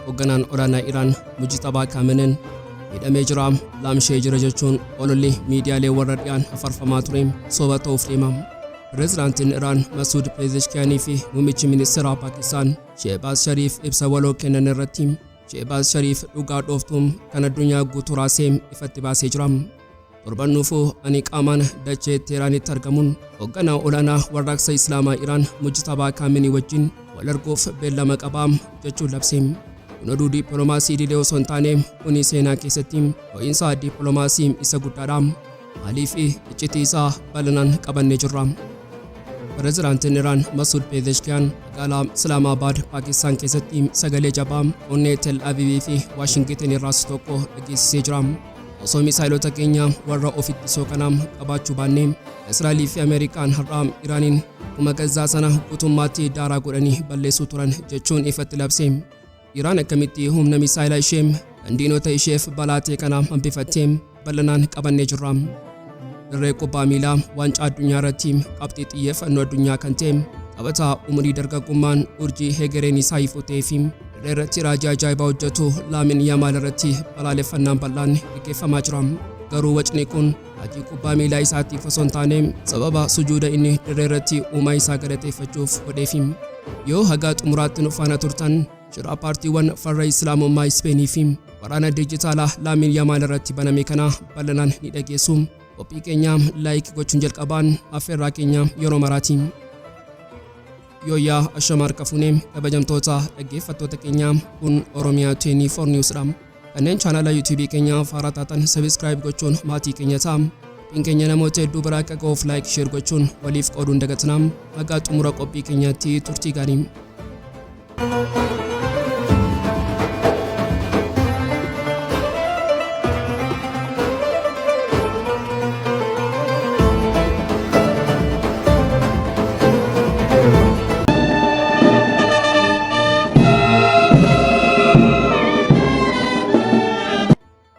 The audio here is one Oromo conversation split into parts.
Hoogganaan olaanaa Iraan Mujtabaa Kaamenen hidhamee jira laamshee jira jechuun ololli miidiyaalee warra dhiyaan hafarfamaa ture soba ta'uuf deema. Pireezidaantiin Iraan Masuud Peezeshkiyaanii fi muummichi ministeeraa Paakistaan Sheehbaaz Shariif ibsa waloo kennan irratti Sheebaaz Shariif dhugaa dhooftuu kan addunyaa guutuu raasee ifatti baasee jira. Torban dhufu ani qaamaan dachee Teeraanitti argamuun hoogganaa olaanaa warraaqsa Islaamaa Iraan Mujtabaa Kaaminii wajjin wal arguuf beellama qabaa jechuun labse. Kun oduu dippiloomaasii idilee osoo hin taane kuni seenaa keessatti ho'iinsa dippiloomaasii isa guddaadha. Maalii fi iccitii isaa bal'inaan qabannee jirra. Pirezidaantiin Iraan Masuud Peezeshkiyaan magaalaa Islaamaabaad Paakistaan keessatti sagalee jabaa onnee Tel Aviivii fi Waashingitin irraas tokko dhageessisee jira. Osoo misaayilota keenya warra of ittisoo kana qabaachuu baannee Israa'elii fi Ameerikaan har'aa Iraaniin akkuma Gazzaa sana guutummaatti daaraa godhanii balleessuu turan jechuun ifatti labse. Iraan akkamitti humna misaayila ishee kan diinota isheef balaa ta'e kana hambifattee bal'inaan qabannee jirra. Dirree kubbaa miilaa waancaa addunyaa irratti qabxii xiyyeeffannoo addunyaa kan ta'e taphataa umurii dargaggummaan urjii hegereen isaa ifuu ta'ee fi dirree irratti raajii ajaa'ibaa hojjetu Laamin Yamaal irratti balaaleffannaan bal'aan gaggeeffamaa jira. Garuu wacni kun Ati kubbaa miilaa isaatiif osoo hin taane, sababa sujuuda inni dirree irratti uumaa isaa galateeffachuuf godheefi. Yoo haga xumuraatti nu faana turtan, shira paartiiwwan farra Islaamummaa Ispeenii fi waraana dijitaalaa Laamiin Yamaal irratti baname kana bal'inaan ni dhageessu. Qophii keenya like gochuun jalqabaan affeerraa keenya yeroo maraati. Yooyyaa ashama harka fuune kabajamtoota dhaggeeffattoota keenya kun Oromiyaa 24 News dha. Kanneen chaanaala YouTube keenya haaraa taatan subscribe gochuun maatii keenya ta'a. Qophiin keenya namoota hedduu biraa akka ga'uuf like share gochuun waliif qooduun dagatinaa. Hagaa xumura qophii keenyaatti turtii gaarii.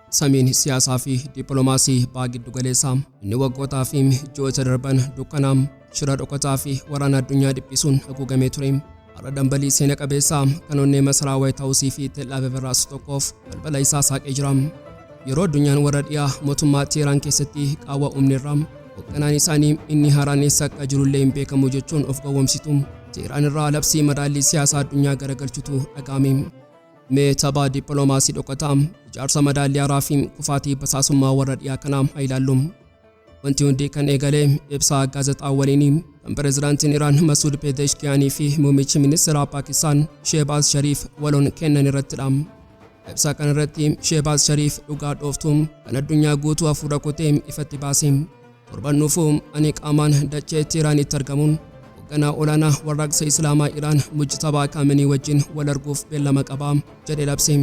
Samiin siyaasaa fi dippiloomaasii baha giddu galeessaa inni waggootaa fi ji'oota darban dukkanaa shira dhokataa fi waraana addunyaa dhiphisuun haguugamee ture. Har'a dambalii seena qabeessa kan onnee masaraa Waayit Haawusii fi Teel'aaviv irraa isa tokkoof balbala isaa saaqee jira. Yeroo addunyaan warra dhiyaa mootummaa Teeraan keessatti qaawwa uumneerra hoogganaan isaanii inni haaraan eessa akka jirullee hin beekamu jechuun of gowwomsitu. Teeraan irraa labsii madaallii siyaasaa addunyaa garagalchutu dhaga'ame. Mee tapha dippiloomaasii dhokataa, ijaarsa madaallii haaraa fi kufaatii basaasummaa warra dhiyaa kanaa haa ilaallu. Wanti hundi kan eegale ibsaa gaazexaa waliinii kan pirezidaantiin Iraan Masuud Peezeshkiyaanii fi muummichi ministeeraa Paakistaan Sheebaaz Shariif waloon kennan irrattidha. Ibsaa kana irratti Sheebaaz Shariif dhugaa dhooftuu kan addunyaa guutuu hafuura kutee ifatti baase. Torban dhufu ani qaamaan dachee Teeraanitti argamuun hoogganaa olaanaa warraaqsa Islaamaa Iraan Mujtabaa Kaamenii wajjin wal arguuf beellama qaba jedhee labse.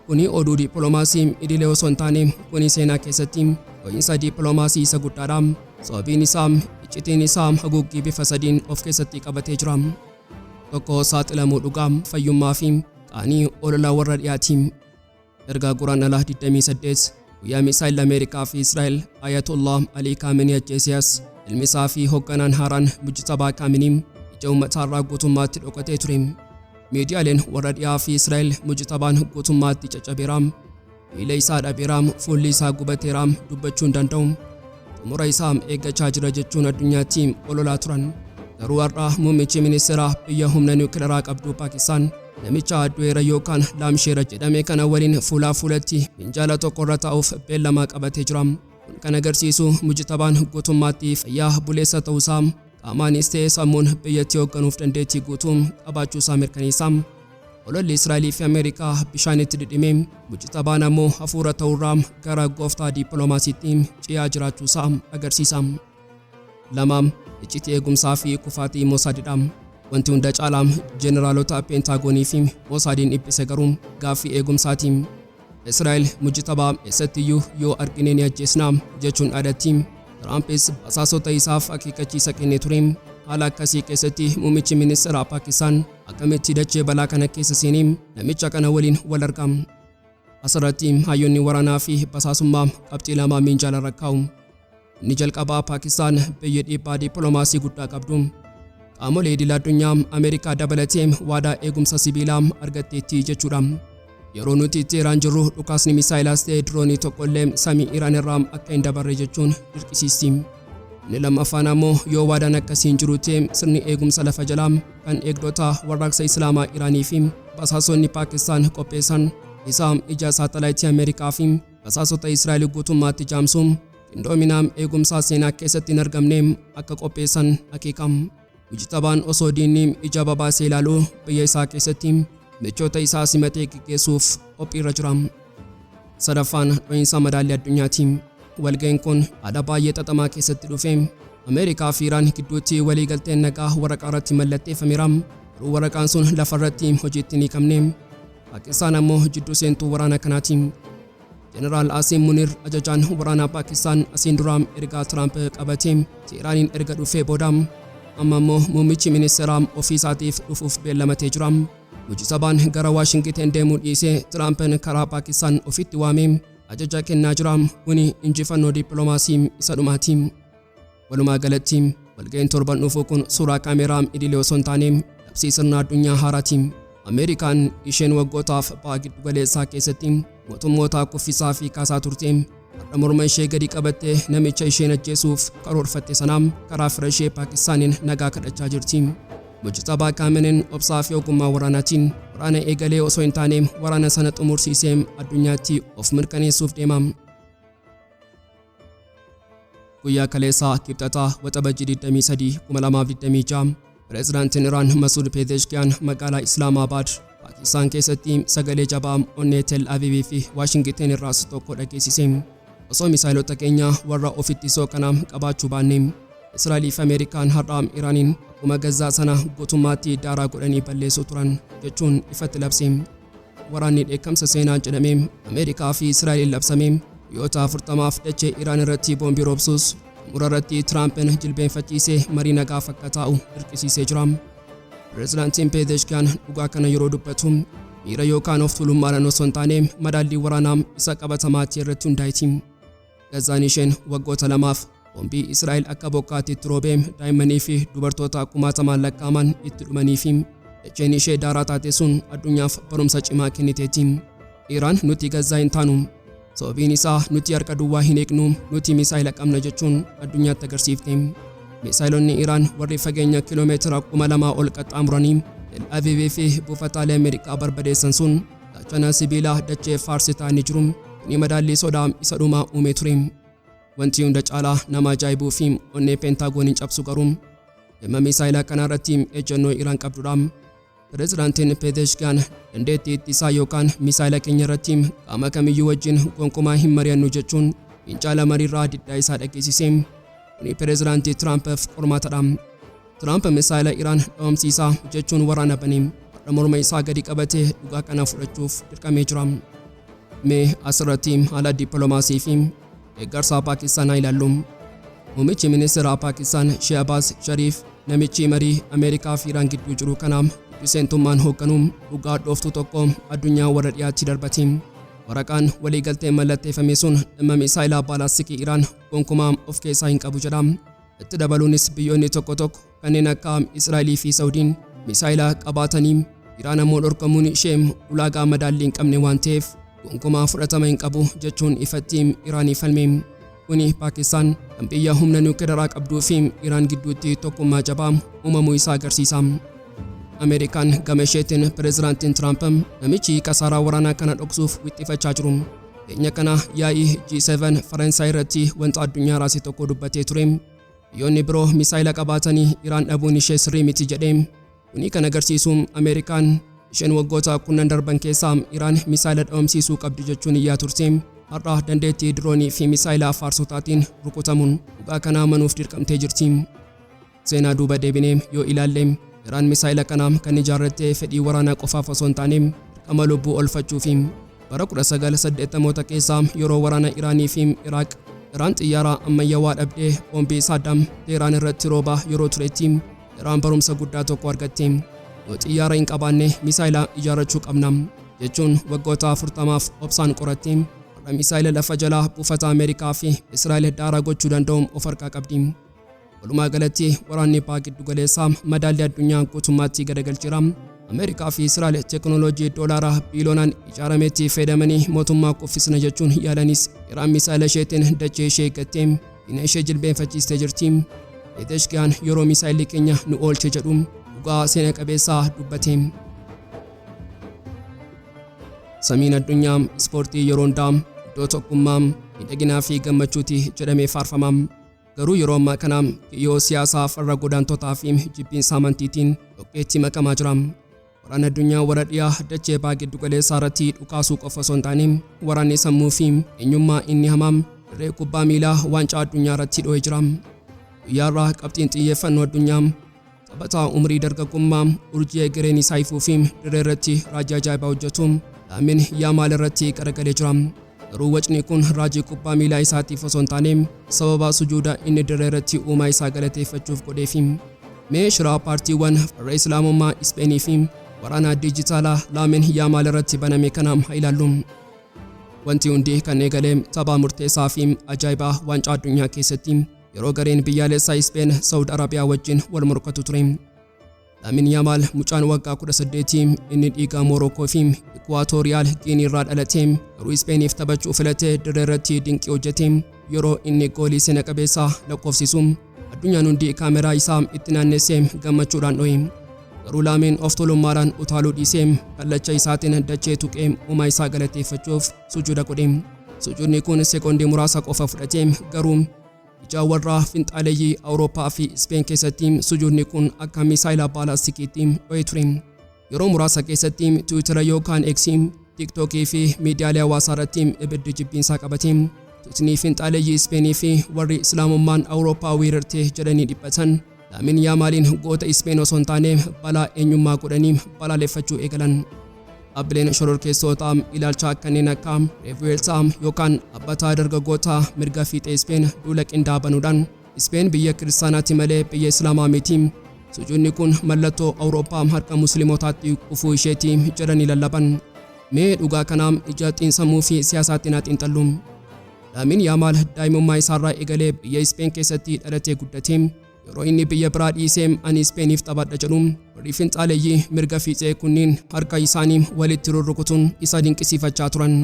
Kuni oduu dippiloomaasii idilee osoo hin taane kuni seenaa keessatti dho'iinsa dippiloomaasii isa guddaadha. Sababiin isaa iccitiin isaa haguuggii bifa sadiin of keessatti qabatee jira. Tokko saaxilamuu dhugaa, fayyummaa fi qaanii olola warra dhiyaati. Erga Guraandhala 28 Guyyaa misaayilli Ameerikaa fi Israa'el Ayatollah Alii Kaamenii ajjeesiyaas ilmi isaa fi hoogganaan haaraan Mujtabaa Kaamenii ija uummataarraa guutummaatti dhokatee ture. Miidiyaaleen warra dhiyaa fi Israa'el Mujtabaan guutummaatti caccabeeraam, miila isaa dhabeeraam, fuulli isaa gubateeraam dubbachuu hin danda'u. xumura isaa eeggachaa jira jechuun addunyaatti ololaa turan. Garuu har'a muummichi ministeeraa biyya humna niwukilaraa qabdu Paakistaan namicha du'eera yookaan laamsheera jedhame kana waliin fuulaa fuulatti minjaala tokkorra taa'uuf beellamaa qabatee jira. Kun kan agarsiisu mujtabaan guutummaatti fayyaa buleessa ta'uusaa qaamaanis ta'e sammuun biyyattii hoogganuuf dandeettii guutuu qabaachuu isaa mirkaneessa. Ololli Israa'elii fi Ameerikaa bishaanitti dhidhime, mucita baan ammoo hafuura ta'urraa gara gooftaa diippiloomaasiitti ce'aa jiraachuu isaa agarsiisa. Lama, iccitii eegumsaa fi kufaatii Mosaadidha. Wanti hunda caalaa jeneraalota peentaagoonii fi Mosaadiin dhiphise garuu gaaffii eegumsaati. Israa'el mujtabaa eessattiyyuu yoo argine ni ajjeesna jechuun dhaadatti. Tiraampis basaasota isaaf akeekkachiisa kennee ture. Haala akkasii keessatti muummichi ministeeraa Paakistaan akkamitti dachee balaa kana keessa seenee namicha kana waliin wal arga? Asirratti hayyoonni waraanaa fi basaasummaa qabxii lama miinjaalarra kaa'u. Inni jalqabaa Paakistaan biyyi dhiibbaa dippiloomaasii guddaa qabdu qaamolee idil addunyaa Ameerikaa dabalatee waadaa eegumsa sibiilaa argatteetti jechuudha. Yeroo nuti itti Iraan jirru dhukaasni misaayilaas ta'e diroonii tokkollee samii Iraan irraa akka hin dabarre jechuun dirqisiisti. Inni lammaffaan ammoo yoo waadaan akkasii hin jiru ta'e sirni eegumsa lafa jalaa kan eegdota warraaqsa Islaamaa Iraanii fi basaasonni Paakistaan qopheessan isaa ija saatalaayitii Ameerikaa fi basaasota Israa'el guutummaatti jaamsu qindoominaa eegumsaa seenaa keessatti hin argamne akka qopheessan akeeka. Mujtabaan osoo diinni ija babaasee ilaalu biyya isaa keessatti michoota isaa simatee geggeessuuf qophiirra jira. Sadaffaan dho'iinsa madaallii addunyaati. Walga'iin kun haala baay'ee xaxamaa keessatti dhufe. Ameerikaa fi Iraan gidduutti waliigalteen nagaa waraqaa irratti mallatteeffameera. Garuu waraqaan sun lafa irratti hojiitti hin hiikamne. Paakistaan ammoo jidduu seentuu waraana kanaati. Jeneraal Asiim Munir ajajaan waraanaa Paakistaan asiin duraa ergaa Tiraamp qabatee Teeraaniin erga dhufee booda amma immoo muummichi ministeeraa ofii isaatiif dhufuuf beellamatee jira. Mujisabaan gara Waashingiteen deemuu dhiisee Tiraampiin karaa Paakistaan ofitti waamee ajaja kennaa jira. Kuni injifannoo dippiloomaasii isa dhumaati. Walumaa galatti walga'iin torban dhufuu kun suuraa kaameeraa idilee osoo hin taane labsii sirna addunyaa haaraati. Ameerikaan isheen waggootaaf baha giddu galeessaa keessatti mootummootaa kuffisaa fi kaasaa turte har'a morma ishee gadi qabattee namicha isheen ajjeesuuf karoorfatte sanaa karaa fira ishee Paakistaaniin nagaa kadhachaa jirti. Mujtabaa Kaameneen obsaa fi ogummaa waraanaatiin waraana eegalee osoo hin taane waraana sana xumursiisee addunyaatti of mirkaneessuuf deema. Guyyaa kaleessaa Kibxataa Waxabajjii 23, 2026 Pireezidaantiin Iraan Masuud Peezeeshkiyaan magaalaa Islaamaabaad Paakistaan keessatti sagalee jabaa onnee Tel Aviivii fi Waashingiteen irraas tokko dhageessise. Osoo misaayilota keenya warra of ittisoo kana qabaachuu baanne Israa'elii fi Ameerikaan har'a Iraaniin akkuma Gazzaa sana guutummaatti daaraa godhanii balleessuu turan jechuun ifatti labse. Waraanni dheekkamsa seenaa jedhamee Ameerikaa fi Israa'eliin labsame guyyoota 40f dachee Iraan irratti boombii roobsuus xumura irratti Tiraampiin jilbeenfachiisee marii nagaa fakka taa'u dirqisiisee jira. Pireezidaantiin Peezeeshkiyaan dhugaa kana yeroo dubbatu miira yookaan of tuulummaadhaan osoo hin taane madaallii waraanaa isa qabatamaa ta'e irratti hundaa'eeti. Gazaan isheen waggoota lamaaf boombii Israa'el akka bokkaatti itti roobee daa'immanii fi dubartoota kumaatamaan lakkaa'aman itti dhumanii fi dacheen ishee daaraa taate sun addunyaaf barumsa cimaa kenniteeti. Iraan nuti Gazaa hin taanu. Sababiin isaa nuti harka duwwaa hin eegnu, nuti misaayila qabna jechuun addunyaatti agarsiifte. Misaayilonni Iraan warri fageenya kiiloomeetira kuma lamaa ol qaxxaamuranii Tel Aviv fi buufataalee Ameerikaa barbadeessan sun Gaachana sibiilaa dachee faarsitaa inni jiru kuni madaallii sodaa isa dhumaa uumee ture. Wanti hunda caalaa nama ajaa'ibuu fi onnee Peentaagooniin cabsu garuu dhimma miisaayila kanaa irratti ejjennoo Iraan qabdudha. Pirezidaantiin Peezeeshkiyan dandeettii ittisaa yookaan miisaayila keenya irratti qaama kamiyyuu wajjin gonkumaa hin mari'annu jechuun fiincaala mariirraa diddaa isaa dhageessise. Kuni Pirezidaantii Tiraampiif qormaatadha. Tiraamp misaayila Iraan dhabamsiisaa jechuun waraana bane har'a morma isaa gadi qabatee dhugaa kana fudhachuuf dirqamee jira. Mee asirratti haala dippiloomaasii fi deeggarsaa Paakistaan haa ilaallu. Muummichi ministeeraa Paakistaan Shehbaaz Shariif namichi marii Ameerikaa fi Iraan gidduu jiru kana biseentummaan hoogganu dhugaa dhooftuu tokko addunyaa warra dhiyaatti darbati. Waraqaan waliigaltee mallatteeffame sun dhimma misaayilaa baalaastikii Iraan gonkumaa of keessaa hin qabu jedha. Itti dabaluunis biyyoonni tokko tokko kanneen akka Israa'elii fi Sawudiin misaayila qabaatanii Iraan ammoo dhorkamuun ishee ulaagaa madaallii hin qabne waan ta'eef gonkumaa fudhatama hin qabu jechuun ifatti Iraanii falme. Kuni Paakistaan kan biyya humna niwukilaraa qabduu fi Iraan gidduutti tokkummaa jabaa uumamuu isaa agarsiisa. Ameerikaan gama isheetiin pireezidaantiin Tiraamp namichi kasaaraa waraanaa kana dhoksuuf wixxifachaa jiru. Dhiyeenya kana yaa'ii G7 Faransaay irratti wanta addunyaa raase tokko dubbatee ture. Biyyoonni biroo misaayila qabaatanii Iraan dhabuun ishee sirrii miti jedhe. Kuni kan agarsiisu Ameerikaan isheen waggoota kunnan darban keessaa Iraan misaayila dhabamsiisuu qabdi jechuun iyyaa turte. Har'a dandeettii diroonii fi misaayila faarsotaatiin rukutamuun dhugaa kana amanuuf dirqamtee jirti. Seenaa duuba deebinee yoo ilaalle, Iraan misaa'ela kana kan ijaarratte fedhii waraanaa qofaaf osoo hin taane, dirqama lubbuu oolfachuufi. Bara 1980moota keessa yeroo waraana Iraanii fi Iraaq, Iraan xiyyaara ammayyawaa dhabdee boombii Saaddaam Teehraan irratti roobaa yeroo turetti, Iraan barumsa guddaa tokko argatte. Yoo xiyyaara hin qabaanne misaa'ela ijaarrachuu qabna. jechuun waggoota 40f obsaan qoratte. Har'a misaa'ela lafa jalaa buufata Ameerikaa fi Israa'el daaraa gochuu danda'u of harkaa qabdi. Walumaa galatti waraanni Paa giddu galeessaa madaallii addunyaa guutummaatti garagalcheera. Ameerikaa fi Israa'el teeknooloojii doolaara biiloonaan ijaarametti fayyadamanii mootummaa kuffisna jechuun yaalanis Iraan misaa'ela isheetiin dachee ishee gattee diina ishee jilbeenfachiistee jirti. Peeteshkiyaan yeroo misaa'elli keenya nu oolche jedhu dhugaa seena qabeessaa dubbate. Samiin addunyaa ispoortii yeroo hundaa iddoo tokkummaa, miidhaginaa fi gammachuuti jedhamee faarfama. Garuu yeroo ammaa kana kiyyoo siyaasaa farra godaantotaa fi jibbiinsa amantiitiin dhoqqeetti makamaa jira. Waraanni addunyaa warra dhiyaa dachee baa giddu galeessaa irratti dhukaasuu qofa osoo hin taane waraanni sammuu fi eenyummaa inni hamaa dirree kubbaa miilaa waancaa addunyaa irratti dho'ee jira. Guyyaa irraa qabxiin xiyyeeffannoo addunyaa Taphataa umrii dargaggummaa, urjii egereen isaa ifuu fi dirree irratti raajii ajaa'ibaa hojjetu Laamin Yaamaal irratti qaragalee jira. Garuu wacni kun raajii kubbaa miilaa isaatiif osoo hin taane sababa sujuuda inni dirree irratti uumaa isaa galateeffachuuf godheefi. Mee shiraa paartiiwwan farra Islaamummaa Ispeenii fi waraana diijitaalaa Laamin Yaamaal irratti baname kana haa ilaallu. Wanti hundi kan eegale tapha murteessaa fi ajaa'ibaa waancaa addunyaa keessatti. yeroo gareen biyyaalessaa Ispeen Sawud Arabiyaa wajjin wal morkatu ture. Laamin Yaamaal mucaan waggaa 18 inni dhiigaa Moorookoo fi Ikuwaatooriyaal Giinii irraa dhalate garuu Ispeeniif taphachuu filatee dirree irratti dinqii hojjete yeroo inni goolii seena qabeessaa lakkoofsisu addunyaan hundi kaameraa isaa itti naannessee gammachuudhaan dho'e. Garuu Laamiin of tolummaadhaan utaaluu dhiisee kallacha isaatiin dachee tuqee uumaa isaa galateeffachuuf sujuuda godhe. Sujuudni kun sekoondii muraasa qofa fudhate garuu ijaa warra finxaaleeyyii Awurooppaa fi Ispeen keessatti sujuudni kun akka misaayila baalastikiitti dho'ee ture. Yeroo muraasa keessatti Tiwiitara yookaan Eksii, Tiiktookii fi miidiyaalee hawaasaa irratti ibiddi jibbiinsaa qabate. Tuutni finxaaleeyyii Ispeenii fi warri Islaamummaan Awurooppaa weerarte jedhanii dhiphatan. Laamin Yaamaaliin goota Ispeen osoo hin taane balaa eenyummaa godhanii balaaleffachuu eegalan. Dhaabbileen shororkeessootaa ilaalchaa kanneen akka Revuelta yookaan Dhaabbataa Dargaggootaa Mirga Fiixee Ispeen duula qindaa'aa banuudhaan Ispeen biyya kiristaanaati malee biyya Islaamaa miti. Sujuudni kun mallattoo Awurooppaa harka Musliimotaatti kufuu isheeti jedhanii lallaban. Mee dhugaa kana ija xiinsammuu fi siyaasaatti naa xiinxallu. Laamiin Yaamaal daa'imummaa isaarraa eegalee biyya Ispeen keessatti dhalatee guddate. Yeroo inni biyya biraa dhiisee ani Ispeeniif taphadha jedhu warri finxaaleeyyii mirga fiixee kunniin harka isaanii walitti rurrukutuun isa dinqisiifachaa turan.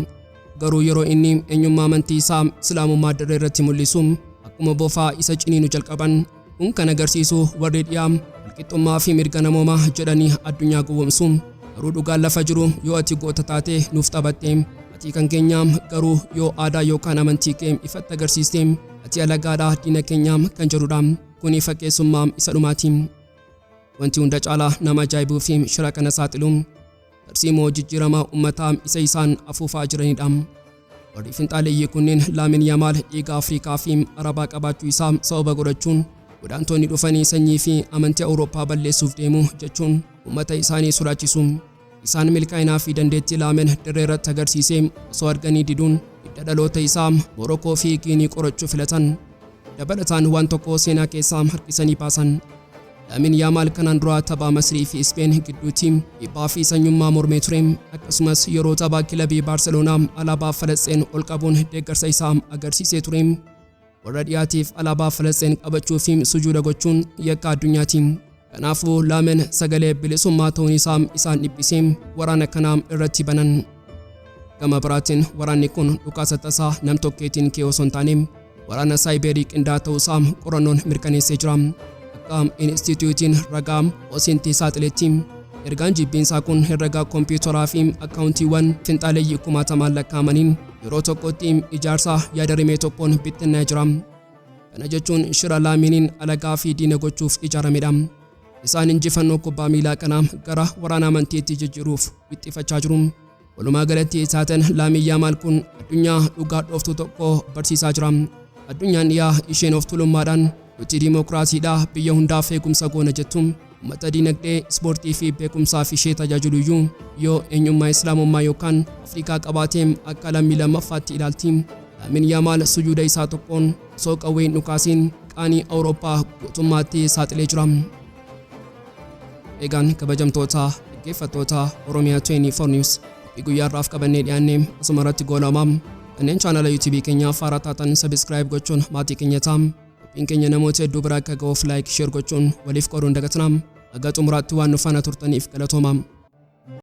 Garuu yeroo inni eenyummaa amantii isaa Islaamummaa dirree irratti mul'isu akkuma bofaa isa ciniinu jalqaban. Kun kan agarsiisu warri dhiyaa walqixxummaa fi mirga namoomaa jedhanii addunyaa gowwomsu. Garuu dhugaan lafa jiru yoo ati goota taate nuuf taphatte atii kan keenyaa garuu yoo aadaa yookaan amantii kee ifatti agarsiiste ati alagaadhaa diina keenyaa kan jedhudha. Kuni fakkeessummaa isa dhumaati. Wanti hunda caalaa nama ajaa'ibuu fi shira kana saaxilu Tarsiimoo jijjiiramaa ummataa isa isaan afuufaa jiranidha. Warri finxaaleeyyii kunneen Laamin Yamaal dhiiga Afrikaa fi Arabaa qabaachuu isaa sababa godhachuun godaantoonni dhufanii sanyii fi amantii Awurooppaa balleessuuf deemu jechuun ummata isaanii sodaachisu. Isaan milkaa'inaa fi dandeettii Laamin dirree irratti agarsiisee osoo arganii diduun hidda dhaloota isaa Moorokoo fi Giinii qorachuu filatan. Dabalataan waan tokko seenaa keessaa harkisanii baasan. Lamin Yaamaal kanaan dura tapha Masrii fi Ispeen gidduutti dhiibbaa fi sanyummaa mormee ture. Akkasumas yeroo tapha kilabii Baarseloonaa alaabaa Falasxeen ol qabuun deeggarsa isaa agarsiisee ture. Warra dhiyaatiif alaabaa Falasxeen qabachuu fi sujuuda gochuun yakka addunyaati. Kanaafuu Laamen sagalee bilisummaa ta'uun isaa isaan dhibbisee waraana kana irratti banan. Gama biraatiin waraanni kun dhukaasa tasaa nam-tokkeetiin ka'e osoo hin taane waraana saayibeerii qindaa'aa ta'uu isaa qorannoon mirkaneessee jira. Akka Inistiitiyuutiin ragaa Osintii saaxiletti ergaan jibbiinsaa kun herregaa kompiitaraa fi akkaawuntiiwwan finxaaleeyyii kumaatamaan lakkaa'amaniin yeroo tokkotti ijaarsa yaada rimee tokkoon bittinnaa'ee jira. Kana jechuun shira laamiiniin alagaa fi diina gochuuf ijaaramedha. Isaan injifannoo kubbaa miilaa kana gara waraana amantiitti jijjiiruuf wixxifachaa jiru. Walumaa galatti taateen Laamiin Yaamaal kun addunyaa dhugaa dhooftuu tokko barsiisaa jira. Addunyaan dhiyaa isheen of tulummaadhaan nuti diimokiraasiidha biyya hundaaf eegumsa goona jettu uummata diinagdee, ispoortii fi beekumsaaf ishee tajaajiluyyuu yoo eenyummaa Islaamummaa yookaan Afrikaa qabaateem akka lammii lammaffaatti ilaalti. Laamiin Yaamaal sujuuda isaa tokkoon osoo qawwee hin dhukaasiin qaanii Awurooppaa guutummaatti saaxilee jira. Egaan kabajamtoota dhaggeeffattoota Oromiyaa 24 News qophii guyyaa irraaf qabannee dhiyaanne asuma irratti goolama. Kanneen chaanala YouTube keenyaa faaraa taatan sabiskiraayib gochuun maatii keenya ta'a. Qophiin keenya namoota hedduu biraa akka ga'uuf laayik sheer gochuun waliif qooduun dagatina. Haga xumuraatti waan nu faana turtaniif galatooma.